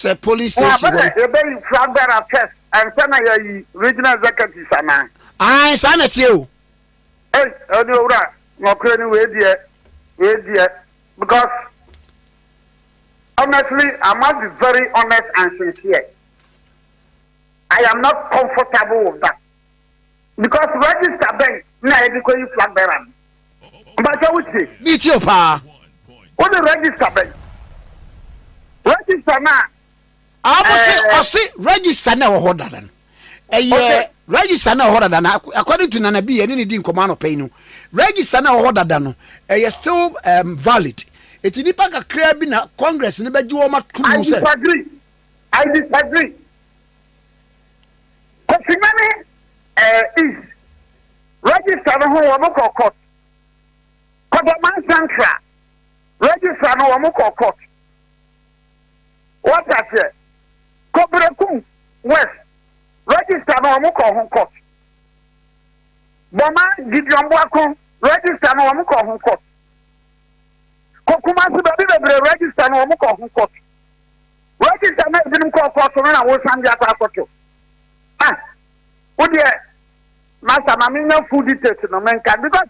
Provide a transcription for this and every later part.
sɛ police station hɔ. ebe yi fura gbara first ɛnsa na yɛ yi regional executive sana. ayi saa na tie o. ɛyi ɛni owura n'ɔkura ni wei deɛ wei deɛ. Because honestly I must be very honest and sincere I am not comfortable with that because register bɛn na yɛde kɔ yi flag bearer no mpakyɛ wo tie. mi tie o paa. wo de register bɛn register naa. ɔmo se eh. ɔse register na ɛwɔ hɔ dada no ɛyɛ register na ɛwɔ hɔ dada no according to nana bi ɛne ne di nkɔmɔ anɔpɛ yi no register na ɛwɔ hɔ dada no ɛyɛ still um, valid eti nipa kakra bi na congress ne bɛgye wɔn atum sɛ. i disagree i disagree kɔfinyane ɛɛ eh, is register no ho wɔn kɔ court kɔdɔman central register no wɔn kɔ court. Wate aseɛ? Kɔ Berekum West, register no, wɔn kɔ ho court. Bɔma Gideon Boako, register no, wɔn kɔ ho court. Kɔ Kumasi baabi bebree, register no, wɔn kɔ ho court. Register na ebinom kɔ court no na wosan de akɔ akɔto. Ah, wo deɛ, master, ma menya full details no, menka because.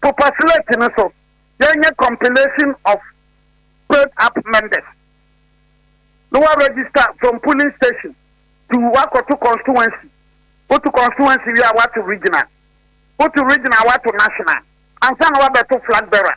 Popa slate no so yɛnyɛ compilation of filled up members na wa register from polling station to wakɔto constituency woto constituency wie a wato regional woto regional wato national ansa na wabɛto flag bearer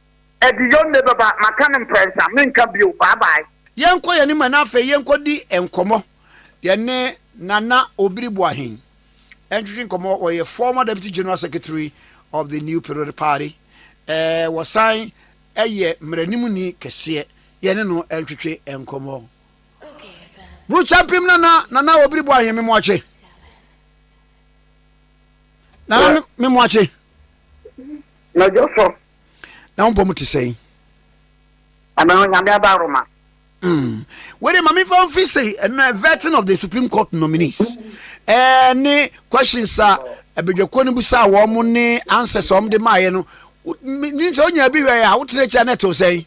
Aduyo nne bɛba maka no mprɛnsa menka bio bye bye. Yɛnkɔ yɛn anim na afei yɛnkɔdi nkɔmmɔ yɛne Nana Obiri Boahen ntwetwe nkɔmmɔ. Ɔyɛ former Deputy General Secretary of the New Period Party. Eh, wɔsan yɛ mmaranimni kɛseɛ. Yɛne no ntwetwe nkɔmmɔ. Burukyɛmpem Nana, Nana Obiri Boahen, me moakye. Nana, me moakye. Mɛdwo so. na wo bɔm te sɛn ɛbɛn onyame aba roma hmm. wede ma mefa mfiri sei ɛnɛ vetting of the supreme court nominees ɛne questions a abadwakuo no busaa wɔn mo ne answers a wɔn de maaeɛ no ne sɛ wonya bi hwɛ a wotena akyi a na ɛtew sɛn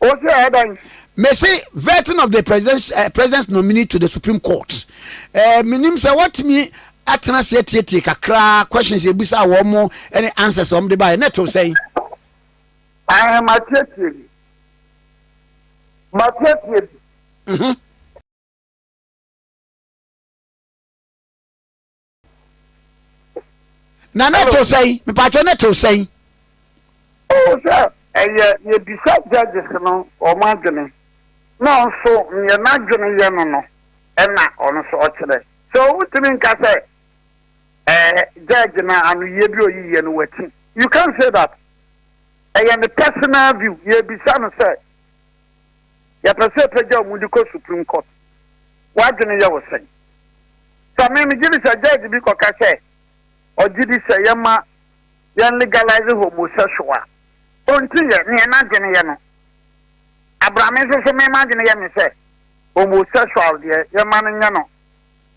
O sɛ ɛdan. Mese vetting of the president's, uh, president's nominee to the Supreme Court. Uh, menim sɛ wɔtumi atena se atietie kakra questions ebisa wɔn mo ne answers wɔn de baeɛ ne to sɛn. Ɛɛ matietie bi matietie bi. Mhm. na ne to sɛn mipatwɛ ne to sɛn. o sɛ ɛyɛ yɛbisa judges no wɔn adwene na nso neɛ n'adwene yɛ no no ɛna ɔno nso ɔkyerɛ sɛ ɔntumi nka sɛ ɛɛ eh, judge na anoyie bi ɔyiyɛ no wati you can say that ɛyɛ ne personal view yɛbisa no sɛ Yɛpɛ sɛ yɛpagya wo mu de kɔ Supreme Court. W'adwene yɛ wo sɛn? Sɛ me, megye di sɛ judge bi kɔka sɛ ɔgye di sɛ yɛma yɛn legalize homosexual a, ɔnti yɛ nea n'adwene yɛ no. Abra me nso so, me m'adwene yɛ me sɛ homosexual deɛ yɛma no nyɛ no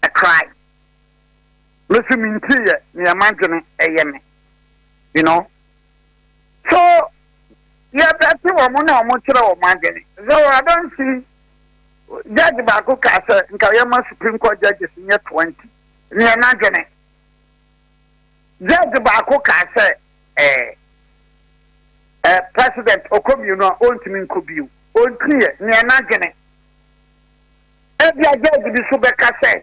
a crime. Me nso mentii yɛ nea m'adwene yɛ me. You know? So yɛbɛte wɔn na wɔkyerɛ wɔn adwene? Sɛ wɔ adansi judge baako kaa sɛ nka yɛma Supreme Court judges nyɛ twenty, neɛ n'adwene. Judge baako kaa sɛ ɛɛ ɛɛ president ɔkɔ mmienu a ɔntumi nkɔ bio, ɔntiɛ, neɛ n'adwene. Ebia judge bi so bɛka sɛ.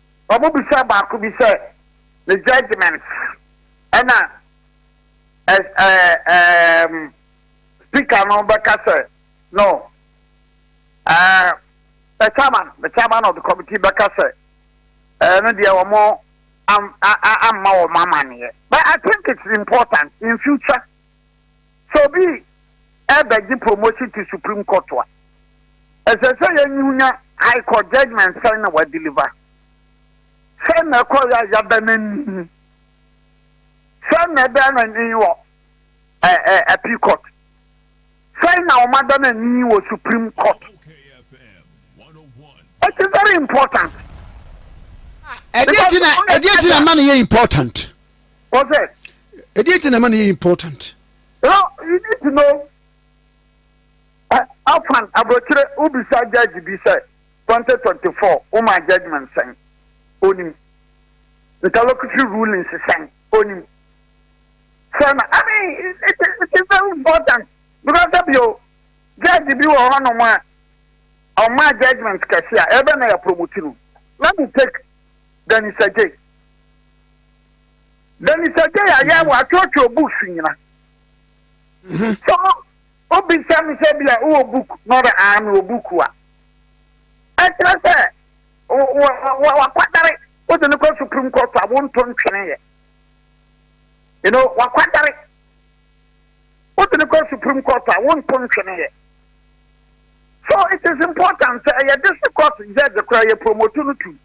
Wɔbisaa baako bi sɛ ne judgement ɛna ɛɛm speaker no bɛka sɛ no ɛɛ the chairman the chairman of the committee bɛka sɛ ɛɛ no deɛ wɔn am a a amma wɔn amaneɛ but I think it's important in future. Sɛ obi rebɛgye promotion to Supreme Court a, ɛsɛ sɛ yɛnhu nya High Court judgement sɛn na wadeliver, sɛn na ɛkɔeɛ a yɛada no ani, sɛn na ɛda no ani wɔ Appeal Court, sɛn na wɔada no ani wɔ Supreme Court. It is very important. ɛdeɛ ti na ɛma no yɛ important. Pɔsɛ. Ɛdeɛ nti na ɛma no yɛ important. No, you need to know. Afan aburokyire wobisa judge bi sɛ 2024 woma judgment sɛn onim interlocutory rulings sɛn onim sɛ na I mean it, it, it is very important because sɛbi o judge bi wɔ hɔnom a ɔma judgment kɛse a ɛbɛ na yɛ promote no let me take Danny Sajay. Dani sɛ gye yɛ yɛ wa kyɔkyɔ books nyina. Mhm. So obi sɛ mi sɛ bi a wɔ book na ɔdɛ aa mi wɔ book wa. Ɛkyerɛ sɛ wɔ wakwadare o de ne kɔ supreme court a wɔn to ntwene yɛ. You know wakwadare o de ne kɔ supreme court a wɔn to ntwene yɛ. So it is important sɛ ɛyɛ district court judge kora yɛ promote no tu.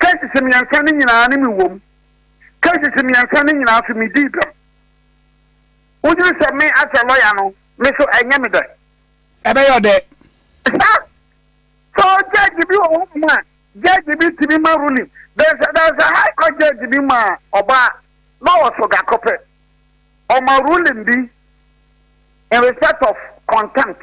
Cases mmiɛnsa no nyinaa ne me wom. Cases mmiɛnsa no nyinaa so me dii bem. Wodwene sɛ me as a lawyer no, me so ɛnyɛ me dɛ? Ɛbɛyɛ ɔdɛ. Sa, so judge bi wɔ hɔ nom a, judge bi tumi ma ruling. There's a, there's a high court judge bi ma ɔbaa, na ɔwɔ so gakɔ pɛ. Ɔma ruling bi in respect of contempt.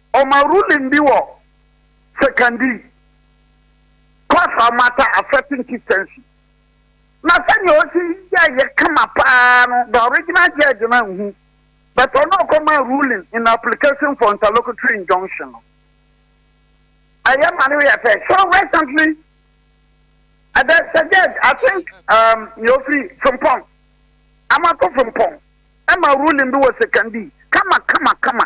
Ɔma ruling bi wɔ Sekondi, course a wɔata a certain chieftaincy. Na sɛnea osi yɛeɛ kama paa no, the original judge no anhu, but ɔno a ɔkɔmaa ruling in application for interlocutory injunction no, ɛyɛ ma no yɛ fɛ. So recently, uh, there's a judge, I think, um, nea ofiri Frimpong, Amato Frimpong, ɛma ruling bi wɔ Sekondi, kama kama kama.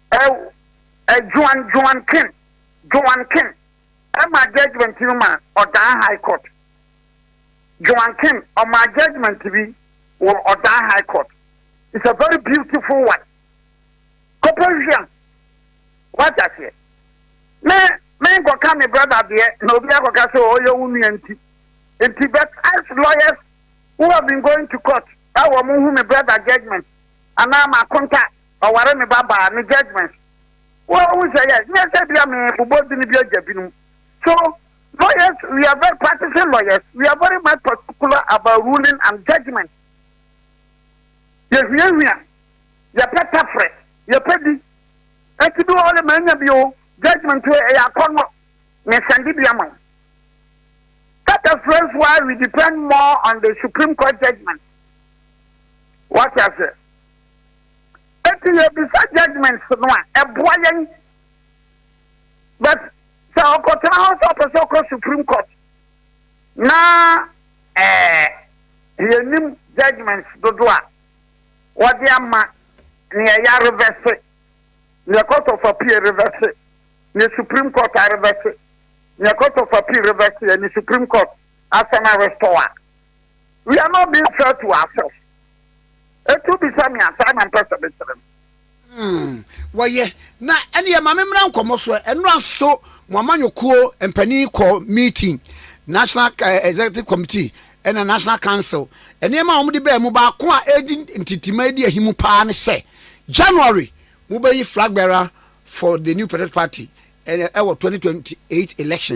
Ɛwo ɛ Juan Juan Kim Juan Kim ɛmaa judgement no ma ɔdan high court Juan Kim ɔmaa judgement bi wɔ ɔdan high court is a very beautiful one kɔpɛ hwia wate aseɛ me me nkɔka me brother deɛ na obi akɔka sɛ ɔyɛ wo nua nti nti but as lawyers who have been going to court ɛwɔ mo hu me brother judgement anaa ma konta Ɔware ne ba baa ne judgement wo hu sɛ yɛ nyɛ sɛ bia me bobɔ dini bi agya binom so lawyers we are very practicing lawyers we are very much particular about ruling and judgement yɛ hwia hwia yɛ pɛ tafrɛ yɛ pɛ di ɛti bi wɔle ma anya bi o judgement wo ɛyɛ akɔ no ne sɛnde bi ama that is friends why we depend more on the supreme court judgement what I say Eti yɛbisa judgements no a, ɛboa yɛn. But sɛ ɔkɔtena hɔ sɛ ɔpɛ sɛ ɔkɔ Supreme Court na ɛɛ yɛnim judgements dodo a wɔde ama nea yɛ arevɛse, nea Court of Appeal revɛse, nea Supreme Court arevɛse, nea Court of Appeal revɛse, ɛne Supreme Court asan arestore a. We are not being fair to ourselves. Etu bisa mi asa na mpɛ sɛ mekyerɛ no. Hmm, wɔyɛ na ɛne yɛ maame mmra nkɔmmɔ so ɛnora nso mo amanyɔkuo mpanin kɔ meeting national eh, executive committee ɛna national council nneɛma a wɔde bɛɛ mu baako a ɛdi ntitima ɛdi ahimu paa ne sɛ january mobɛyi flag bearer for the new patriotic party ɛwɔ 2028 election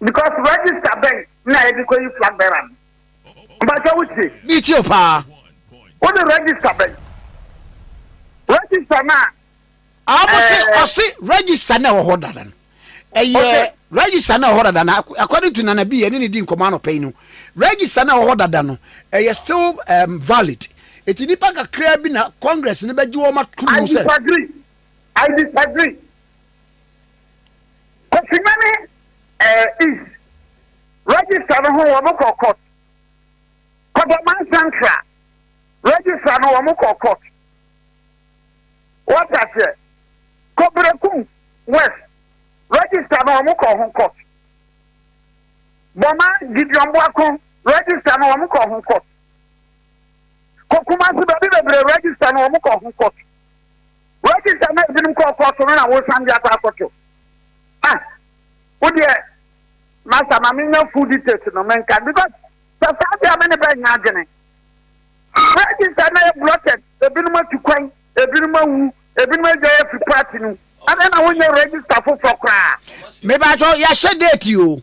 because register bɛn na yɛde kɔ yi flag bearer no mpatsɛ wo tie. mi tie o paa. o de register bɛn register na. ɔmo se ɔse register na ɛwɔ hɔ dada no ɛyɛ register na ɛwɔ hɔ dada no according to nana bi ɛne ne di nkɔmɔ anɔpɛ yi no register na ɛwɔ hɔ dada no ɛyɛ still um, valid eti nipa kakra bi na congress ne bɛ gye wɔn atum sɛ. i disagree i disagree. Kofina ne ɛɛ eh, East register no ho wɔn kɔ court. Kɔdɔman Central register no wɔn kɔ court. Wɔte aseɛ. Kɔberekum West register no wɔn kɔ ho court. Bɔma Gideon Boako register no wɔn kɔ ho court. Kokumasi baabi bebree register no wɔn kɔ ho court. Wagye sɛ na ebinom kɔ ɔkɔ so no na wosan de akɔ akɔto. Ah, wo deɛ, Master, ma menya full details no menka because sɛ saa deɛ me ne bɛ nya adwene. Wagye sɛ na yɛ blocked, ebinom atu kwan, ebinom awu, ebinom agya yɛ fi party no, ɛna na wonyɛ register foforɔ koraa. Mebakyɛ, yɛahyɛ date o.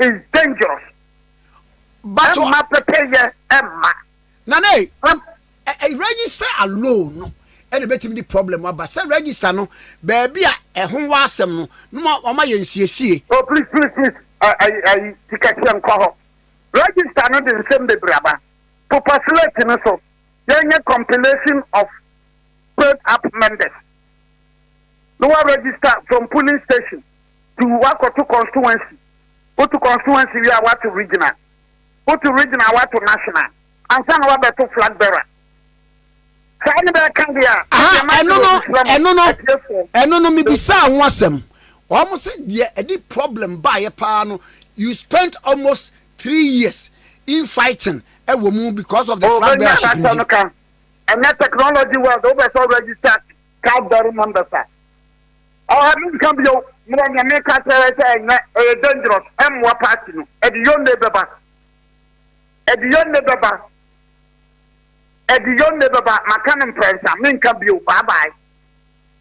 is dangerous. But ɛmma pɛpɛyɛ ɛmma. Nana yi ɛ register alone no ɛna ebetumi di problem aba sɛ register no baabi a ɛho wɔ asɛm no no ma wɔn ayɛ nsiesie. Oh please please please ayi ayi tikɛseɛ nkɔ hɔ register no de nsɛm bebree aba populate no so yɛnyɛ compilation of paid up members. na wa register from polling station to wakɔto constituency woto constituency wie a wato regional woto regional wato national ansa na wabɛto flag bearer saa ne bɛka deɛ a ɛno no ɛno no ɛno no mebisaa ho asɛm wɔn sɛ deɛ ɛde problem baayɛ paa no you spent almost three years in fighting ɛwɔ mu because of the oh, flag bearer ship nti. Ɛnɛ technology world wo bɛ sɛ wo register Cadbury members a ɔha mi nka bio mmerɛ nea meka kyerɛ sɛ ɛnyɛ ɛyɛ dangerous ɛmmoa party no ɛde yonne bɛba ɛde yonne bɛba ɛde yonne bɛba maka no mprɛnsa menka bio bye bye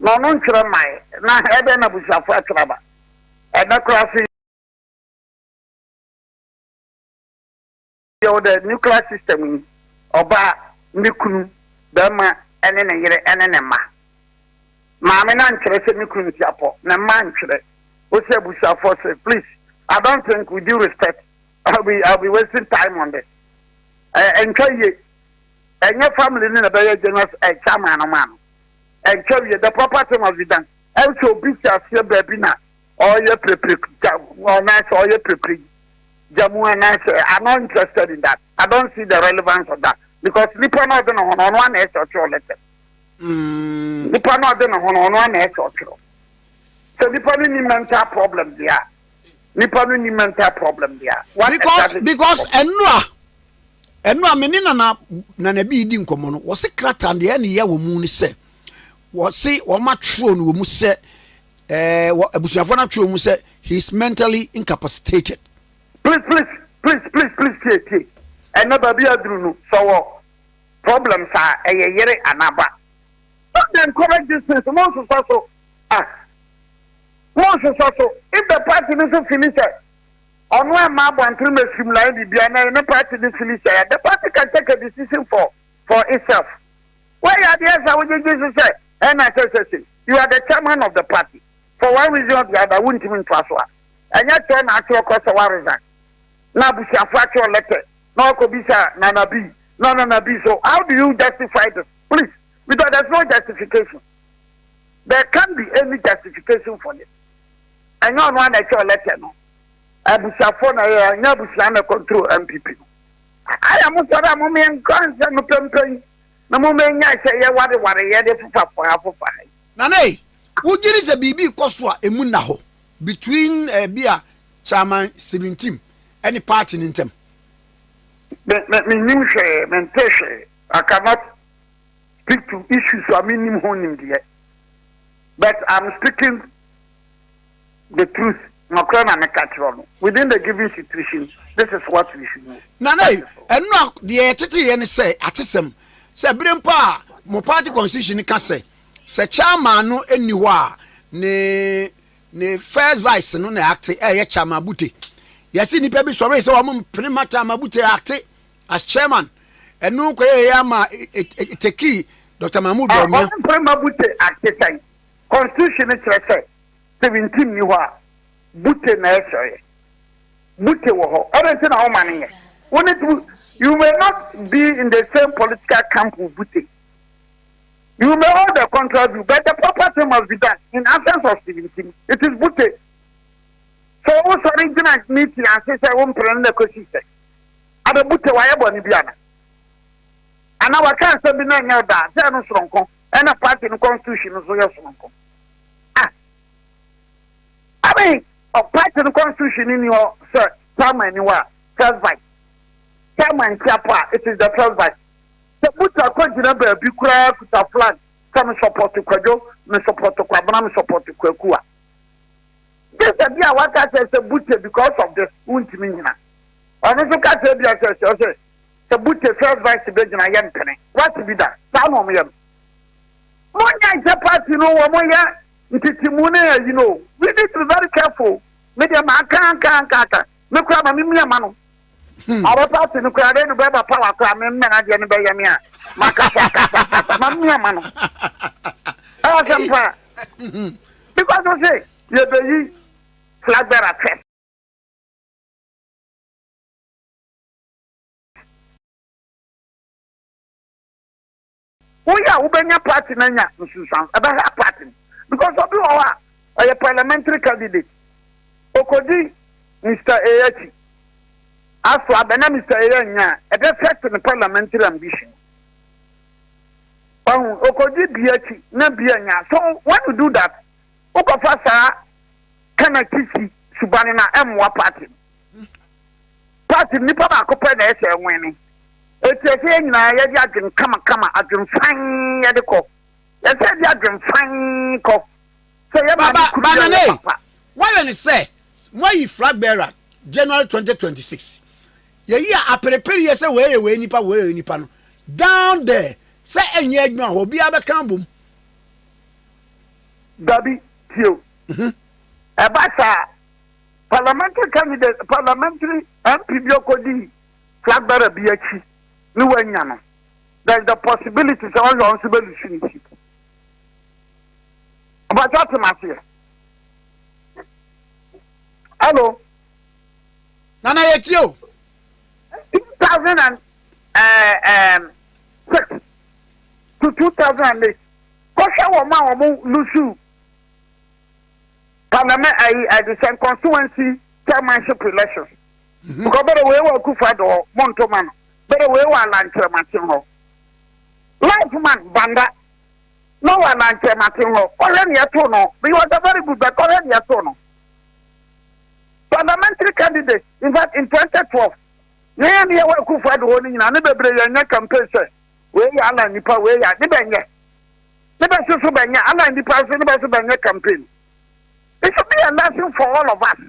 na ɔno ntwerɛ mmae, na ɛdɛn na abusuafoɔ atwerɛ aba ɛnnɛ koraa so yi? Yɛwɔ the nuclear system yi, ɔbaa, ne kunu, barima ne ne yere ne ne mma. Maame no antwerɛ sɛ me kunu ntiapɔ, ne mma antwerɛ. Wose abusuafoɔ so, please, I don't think with due respect, I'll be I'll be wasting time on this. Ɛntwa yie. Ɛnyɛ family ne na bɛyɛ general eh, chairman no maa no. Ɛntwa yie. The proper thing must be done. Ɛnso obi si aseɛ baabi na ɔyɛ pirepire anaasɛ ɔyɛ pirepire gyamu anaasɛ I'm not interested in that. I don't see the relevance of that because nipa na ɔde ne ho no ɔno ana ɛsɛ ɔtwerɛ lɛtɛ. Mm. Nipa na ɔde ne ho no ɔno ana ɛsɛ ɔtwerɛ. Sɛ nipa no ni mental problem deɛ a. nipa no ni mental problem dia. Because because enura enura me ne nana nana bi di nkɔmɔ no wɔsi krataa deɛ ɛna yɛ wɔn mu ni sɛ wɔsi wɔn atwerɛ no wɔn mu sɛ ɛɛ wɔ abusuafoɔ no atwerɛ wɔn mu sɛ he is mentally incapacitated. please please please please please tie tie ɛnna baabi aduru no sɔwɔ problem saa ɛyɛ yere anaba. don't encourage this thing so mo nsosa so ah. Monhwehwɛ so ebɛ party no so fili sɛ ɔno ɛma abɔntere mɛ sum line bibia na ɛne party no fili sɛ ya the party can take a decision for for itself wɛ ya deɛ sa wo gyegye so sɛ ɛna sɛ sɛ sɛ you are the chairman of the party for one reason or the other wo ntimi ntoa so a ɛnyɛ kyerɛ na akyerɛ kɔ sɛ wa resign na abusuafo akyerɛ lɛtɛ na ɔkɔ bisa nana bi na nana bi so how do you justify this please Because there's no justification. There can be any justification for this. And you know I tell letter no. Abusuafo na yɛ anya abusua na control MPP no. Ayɛ mo sɔrɔ a mo mmea nkɔ nsɛm no pɛmpɛn na mo mmea nya sɛ yɛ ware ware yɛ de fofa fofa fofa. Nana yi, wogye ne sɛ biribi kɔ so a emu nna hɔ between eh, bi a Chairman Stephen Tim ne party no ntam? Menim hwee, mente hwee. I cannot speak to issues a menim ho nimdeɛ but I'm speaking the truth nɔkorɛ na meka kyerɛ no within the given situation this is what we should do. na na ɛno a deɛ yɛtete yɛ ne sɛ atesɛm sɛ bere mpo a mo party constitution ka sɛ sɛ chairman no nni hɔ a ne ne first vice no na akte ɛyɛ chairman bute yɛsi nipa bi sɔre sɛ wɔn mpene ma chairman bute akte As chairman, ɛno kɔyɛ yɛ ama etekii Dr. Mahmoud ah, Bawumia. Ɔmo mpere ma Bute ate sɛn? Constitution no kyerɛ sɛ sɛ wintim ni hɔ a Bute na ɛsɔyɛ. Bute wɔ hɔ. Ɔdɛ nti na wɔn ma no yɛ. Wɔn nti you may not be in the same political camp with Bute. You may hold a contrary view, but the proper thing must be done in absence of Stevenson. It is Butte. So, also, original meeting, I say, I'm praying the question. abɛbute wayɛ bɔne bi ana? Anaa waka asɛm bi na ɛnyɛ ɔda a, sɛ ɛno soronko, ɛna party no constitution no so yɛ soronko. Ah! I mean, party no constitution ni hɔ sɛ chairman ni hɔ a, first vice. Chairman nti apo a, it is the first vice. Sɛ buta kɔ gyina baabi koraa kuta flag sɛ me support kwadwo, me support kwabena, me support kwaku a, Gye sɛ bia waka kyerɛ sɛ Bute because of this wontumi nnyina. Ɔno nso ka kyerɛ bia sɛ sɛ ɔsɛ sɛ Bute first vice bɛgyina yɛmpene. Wate bi da? Saa na wɔyɛ no. Monyɛ nhyɛ party no wɔn yɛ ntetemu ne ayi no o. We need to be very careful. Me deɛ maka aka aka aka. Me kura ma me mia ma no. Hmm. Ɔbɛ paati no kura de no bɛ ba pawa kura me mmɛn adeɛ no bɛyɛ me a ma kasa kasa kasa ma mia ma no. Ɛyɛ sɛm paa. Hmm. Because o se yɛbɛyi flag bearer fɛm. Wo yɛ a wo bɛ nya party no anya nsunsuanso, ɛbɛ hurt party no because obi wɔ hɔ a ɔyɛ parliamentary candidate, okodi Mister A akyi, aso abɛ na Mister A annya a, ɛbɛ affect ne parliamentary ambition. Wahu, okodi B akyi na B annya, so when you do that, wo kɔfa saa kanakyi si suban no a, ɛmmoa party no. Part no nipa baako pɛ na ɛhyɛ nwene. Enti ɛsɛ yɛn nyinaa yɛde adwene kamakama, adwene fann yɛde kɔ. Ɛsɛ yɛde adwene fann kɔ. Sɛ yɛ ba ne kuru yɛ yɛ papa. Wɔyɛ ne sɛ moayi flag bearer January 2026. Yɛyi a aperepere yɛ sɛ wei yɛ wei nipa wei yɛ nipa no. Down there sɛ ɛnyɛ adwuma hɔ obiara bɛka abom. Dabi tio. Mhm. Ɛba saa. Parliamentary candidate parliamentary MP bi ɔkɔdi flag bearer bi akyi ne wanya no there is the possibility sɛ ɔyɛ ɔnso bɛlusu ne seat ɔbɛkyɛ atem aseɛ hello nana yɛtie o 2006 eh, to 2008 kɔhwɛ wɔn a wɔn lusu Parliament ayi adi sɛ nkɔnsowansi chairmanship elections because bɛrɛ wei wɔ Akufo Addo hɔ mo nto ma no bɛrɛ wei wɔ Alankyerɛmaten hɔ life man Banda na wɔ Alankyerɛmaten hɔ ɔhwɛ ne yɛto no he was a very good but ɔhwɛ ne yɛto no parliamentary candidate in fact in 2012 yɛn yɛ ne yɛwɔ Akufo Addo hɔ no nyinaa ne bebree yɛn nyɛ campaign sɛ Wei yɛ ana nipa wei yɛ ne bɛ nyɛ ne bɛ so so bɛ nyɛ ana nipa nso ne bɛ so bɛ nyɛ campaign it should be a lesson for all of us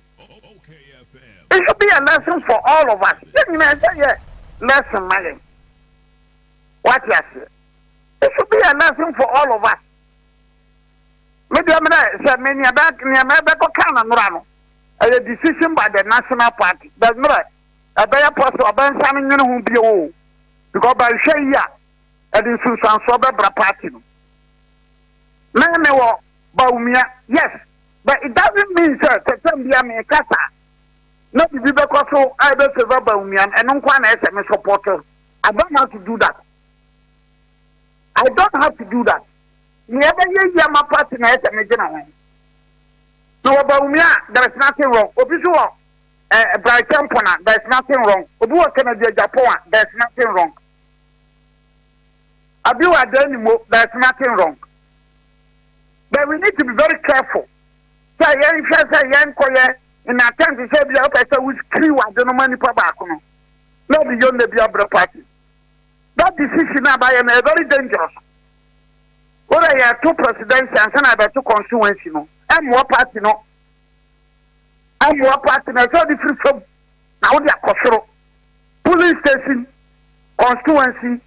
it should be a lesson for all of us yɛ nyina ɛsɛ yɛ lesson ma yɛn wate aseɛ it should be a lesson for all of us me deɛ me dɛ sɛ me nea bɛ nea mɛ bɛkɔ kan na nora no ɛyɛ decision by the national party bɛ nora ɛbɛyɛ pɔsɛ ɔbɛnsa no nwene ho bio o. Because by nhwɛ yi a, ɛde nsunsuansoɔ bɛbra party no. Me me wɔ Bawumia, yes, but it doesn't mean sɛ tɛtɛm bia me kasa na bibi bɛkɔ so a ɛbɛ favor Bawumia no, ɛno nko na ɛsɛ me support. I don't have to do that. I don't have to do that. Me ɛbɛyɛ yi ama party na ɛsɛ me gyina ho. Na wɔ Bawumia, there is nothing wrong. Obi so wɔ Eh, Bright Temple na, there's nothing wrong. Obi wɔ Kennedy Agyapong a, there's nothing wrong. Abi wɔ Adanimo, there's nothing wrong. But we need to be very careful. Sɛ yɛn hwɛ sɛ yɛn kɔyɛ in attempt sɛ bi a wopɛ sɛ wo kiri wade no ma nipa baako no. Na ɔde yɔ nna bi abere party. That decision a bayɛ no, very dangerous. Wọ́n yɛ to presidency ansa na ɛbɛto constituency no. Ɛmmoa party no. Amoa party na ɛsɛ ɔde firi fam na wode akɔ soro. Polling station constituency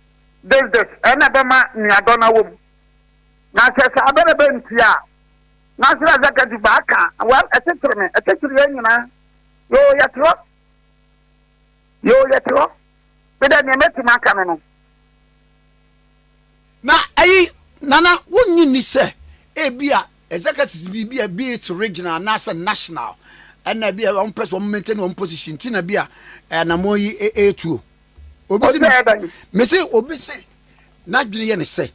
business ɛna bɛma nuadɔ na wɔm. Na sɛ saa bɛ na bɛnti a National Executive baaka well ɛkyekyere me ɛkyekyere yɛn nyinaa. Yoo yɛte hɔ. Yoo yɛte hɔ. Medɛ nea mɛtumi aka no no. Na ɛyi na na wonnye nni sɛ ebia executives bi, bi a be it regional anaasɛ national, ɛna bi a wɔmpɛ sɛ wɔn maintain wɔn position ti na bi a anamɔ yi etuo. Obi si me se obi se n'adwene yɛ ne sɛ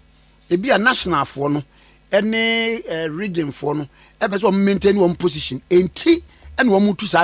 ebi a nationalfoɔ no ɛne regionfoɔ no ɛpɛ sɛ wɔn maintain wɔn position enti ɛna wɔn tu saa.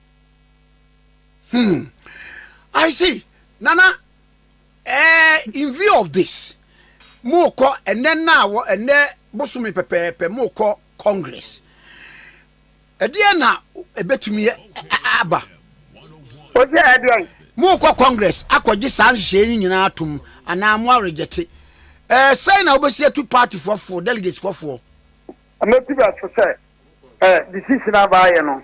Hmm. I see. Nana, eh, in view of this, more call and then now and then bosumi pɛpɛɛpɛ more call Congress. Ɛdeɛ na ɛbɛtumi aba. O sɛ ɛdeɛ. Mo kɔ Congress akɔgye saa nhyehyɛe no nyinaa atom anaa mo aweregyɛte. Ɛɛ sɛn na wobɛsi atu party fɔfoɔ delegates fɔfoɔ. Mɛtu bɛ so sɛ ɛɛ decision abaayɛ no.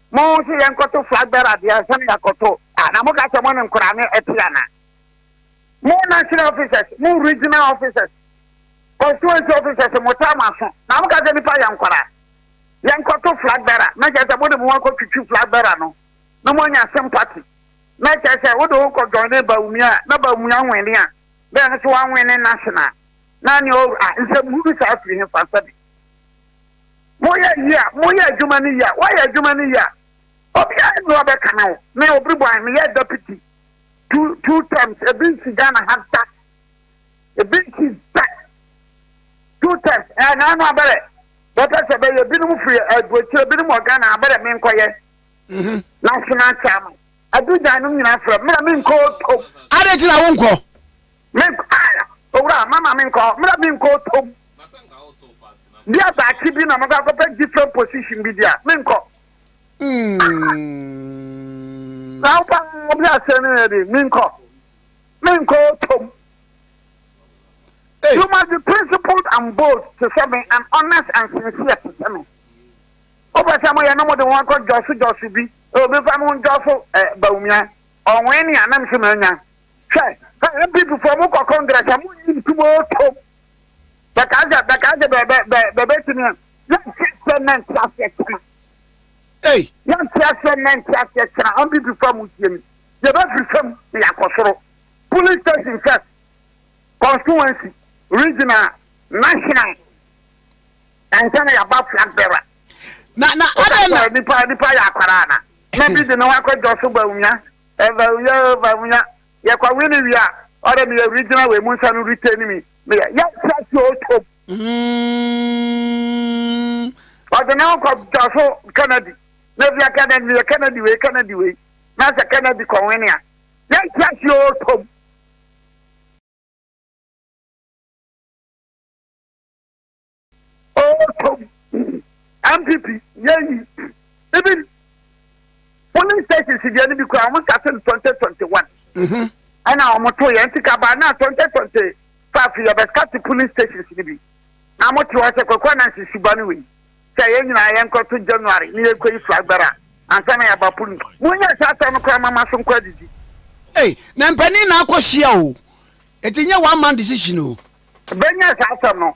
Mo se yɛnkɔto flagbɛr adeɛ ansa na yɛakɔto a, na moka sɛ mo ne nkoraa no ɛte ana? Mo national officers, mo regional officers, constituency officers motaa mo aso na moka sɛ nipa yɛ nkoraa yɛnkɔto flagbɛr a, na kyerɛ sɛ mode mo ho akɔtwitwi flagbɛr no na moanya sympathy na kyerɛ sɛ wode wo kɔ joine Bawumia a na Bawumia wene a na ɛno nso wanwene national na ne ɔwura a nsɛm hunu saa firi hefa sɛbe Moyɛ yie a, moyɛ adwuma no yie a, woayɛ adwuma no yie a, obiara nni hɔ bɛkane wo. Me Obiriboahe, meyɛɛ Deputy two two terms, ebi nsi Ghana ha da, ebi nsi da, two terms, ɛɛ na ano abɛrɛ, bɛpɛ sɛ bɛyɛ, ebinom firi aburokyire, ebinom wɔ Ghana, abɛrɛ me nkɔyɛ, mhm. national chairman, adugyan nom nyinaa frɛ, mmerɛ me nkɔ otom. Adɛn ti na wo nkɔ? Mempae, Owura, mma ma menkɔ hɔ. Mmra menkɔ otom. Di a daakye bi na mɛkɔ akɔpɛ different position bi di a, menkɔ. Na wo paa bi aseɛ no yɛ de, menkɔ. Menkɔ otom. You must be principled and bold te sɛ me and honest and sincere te sɛ me. Wopɛ sɛ moyɛ no mode ho akɔ jɔso jɔso bi. Obi fa mo jɔso Bawumia. Ɔwɛn ni anam so manya. Hwɛ, hwɛ, NPP foɔ mo kɔ Congress a, mo nyi ntum o tom. Bɛkaa sɛ, bɛkaa sɛ bɛ, bɛ, bɛ, bɛbɛtumi a, yɛnte aseɛ nnɛ nte aseɛ kyena. Ei! Yɛnte aseɛ nnɛ nte aseɛ kyena, NPP foɔ a mo tie mi. Yɛbɛfiri fam na yɛakɔ soro. Polling station first, constituency, regional, national, ansa na yɛaba flag bearer. Na, na, adɛn na. Nipa, nipa yɛ akwaraa na. Na bi de ne ho akɔdwɔ so bawumia. Ɛva wia o va munya yɛ kwa wini wia ɔdɛ mi yɛ regional wɛ mu nsa no rite ni mi mi yɛ yɛ nsa si o tom. Ɔdɛ na ɔkɔ dɔfo Kennedy na via Kennedy mi yɛ Kennedy wɛ Kennedy wɛ na sɛ Kennedy kɔ wini a yɛ nsa si o tom. ɔtɔ mu npp yɛyi even polling stations deɛ no bi kora wɔn start no twenty twenty one mhm. ɛna wɔn to yɛn ti kaba na twenty twenty five yɛ bɛ start polling stations no bi na wɔn te hɔ sɛ kɔkɔ na sisi ba no wei sɛ yɛn nyinaa yɛn kɔ to january ne yɛ kɔ yi flag bɛra ansa na yɛ ba polling mu n yɛ sɛ atɔ no kora mama so nkɔ adidi. ee na mpanyin na akɔ hyia o eti n yɛ one man decision o. bɛnyɛ saa asɛm no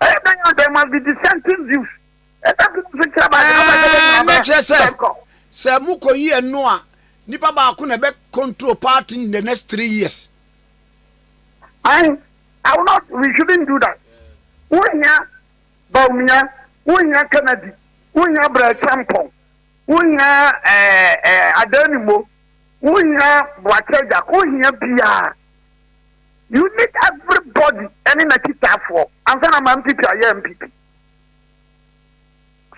Ɛyɛ dɛn a there must be dissenting views. Ɛda bi nso kyerɛ baa na bɛbɛ bɛ nyina bɛ sɛnkɔ. Sɛ mo kɔ yi ɛno a, nipa baako na ɛbɛ control party in the next three years. I, I will not, we shouldn't do that. Wohia Baumia, wohia Kennedy, wohia Brɛkyɛmpɔn, wohia eh, eh, Adanimo, wohia Boakyɛ Jack, wohia biara. You need everybody ɛne n'akyitaafoɔ ansa na ma MPP ayɛ MPP.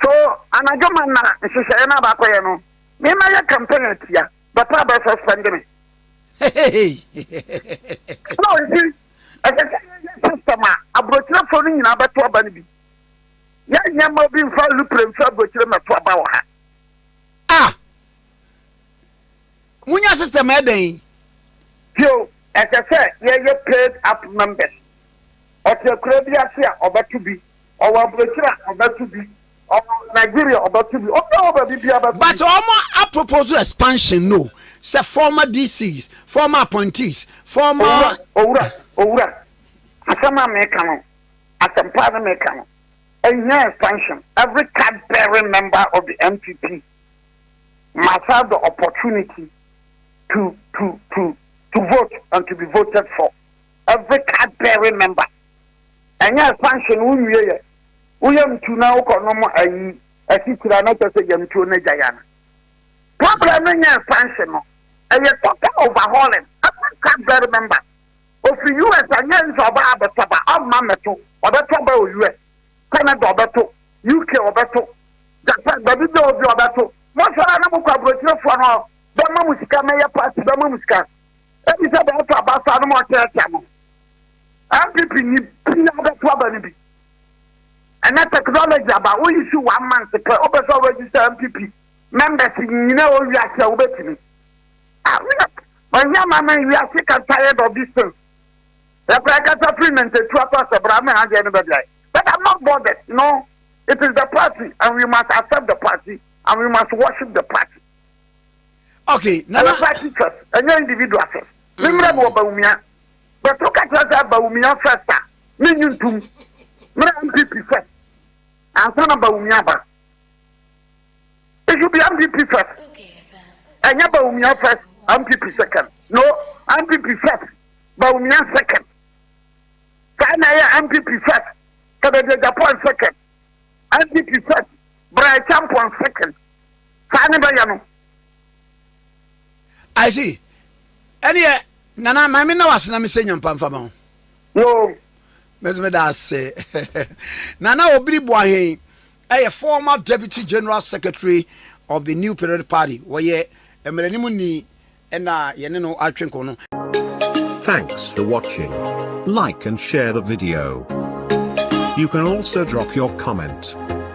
So anadwo ma na nhyehyɛeɛ no abakɔyɛ no me ma yɛ campaign atia bɛpɛ abɛ suspend me. Ɛna ɔnti ɛsɛ sɛ yɛyɛ system a aburokyerefoɔ no nyinaa bɛto aba no bi. Yɛnyɛ ma obi nfa lupre nfa aburokyire mmɛto aba wɔ ha. Ah! Munya system a ɛbɛn yi. Bio, ɛsɛ sɛ yɛyɛ paid app members. Ɔte akura bi ase a, ɔbɛto bi. Ɔwɔ aburokyiri a, ɔbɛto bi. Ɔwɔ Nigeria, ɔbɛto bi. Obi a ɔwɔ baabi biara bɛto bi. But wɔn apropose expansion no sɛ former DCs, former appointees, former. Owura, owura, owura, asɛm a meka no, asɛmpa ne meka no, ɛnyɛ expansion. Every card bearing member of the MPP. must have the opportunity to to to to vote and to be voted for every card bearing member ɛnyɛ expansion wo nwie yɛ woyɛ mtu na wokɔ nom ayi asikyira na kyɛ sɛ yamtuo no agya ya no problem no nyɛ expansion no ɛyɛ total overhauling every card bearing member ofiri us anyɛ nso ɔbaa bɛtɔba ɔmma mɛto ɔbɛtɔba o us Canada ɔbɛto, UK ɔbɛto, Japan baabi bia obi ɔbɛto. Mɔsɔre a na mokɔ aburokyerefoɔ no bɛma mo sika mɛyɛ party bɛma mo sika. Ebi sɛ bɛyɛ to aba saa no ma ɔkyɛkyɛ mo. MPP ni bia bɛto aba no bi. Ɛnɛ technology aba wo issue one month pɛ wopɛ sɛ register MPP members nyina wɔ wiase a wobɛtumi. Ah, we are, my young man, we are sick and tired of this thing. Yɛkɔ yɛkasa firi nantetu akɔ asɛbora ama ɛha deɛ no bɛdeae but I'm not bothered no it is the party and we must accept the party and we must worship the party. Okay, nana. Ɛyɛ party first, ɛnyɛ individual first. Ne mmerɛ no wɔ Bawumia. Bɛto ka kyerɛ sɛ Bawumia first a, ne nyi ntum. Mmerɛ MPP first. Ansa na Bawumia ba. It should be MPP first. Ɛnyɛ Bawumia first, MPP second. No, MPP first, Bawumia second. Saa na ɛyɛ MPP first, Kadagya Japan second. MPP first, Brian Champon second. Saa ne bɛyɛ no. I see. Ɛne yɛ nana maame na wasena me sɛ nyampa mfama ho. Yoo. Mese meda ase. Nana Obiri Boahen yɛ former Deputy General Secretary of the New Period Party. Wɔyɛ mmaranim ni na yɛne no atwe nkɔmmɔ no. Thanks for watching. Like and share the video. You can also drop your comment.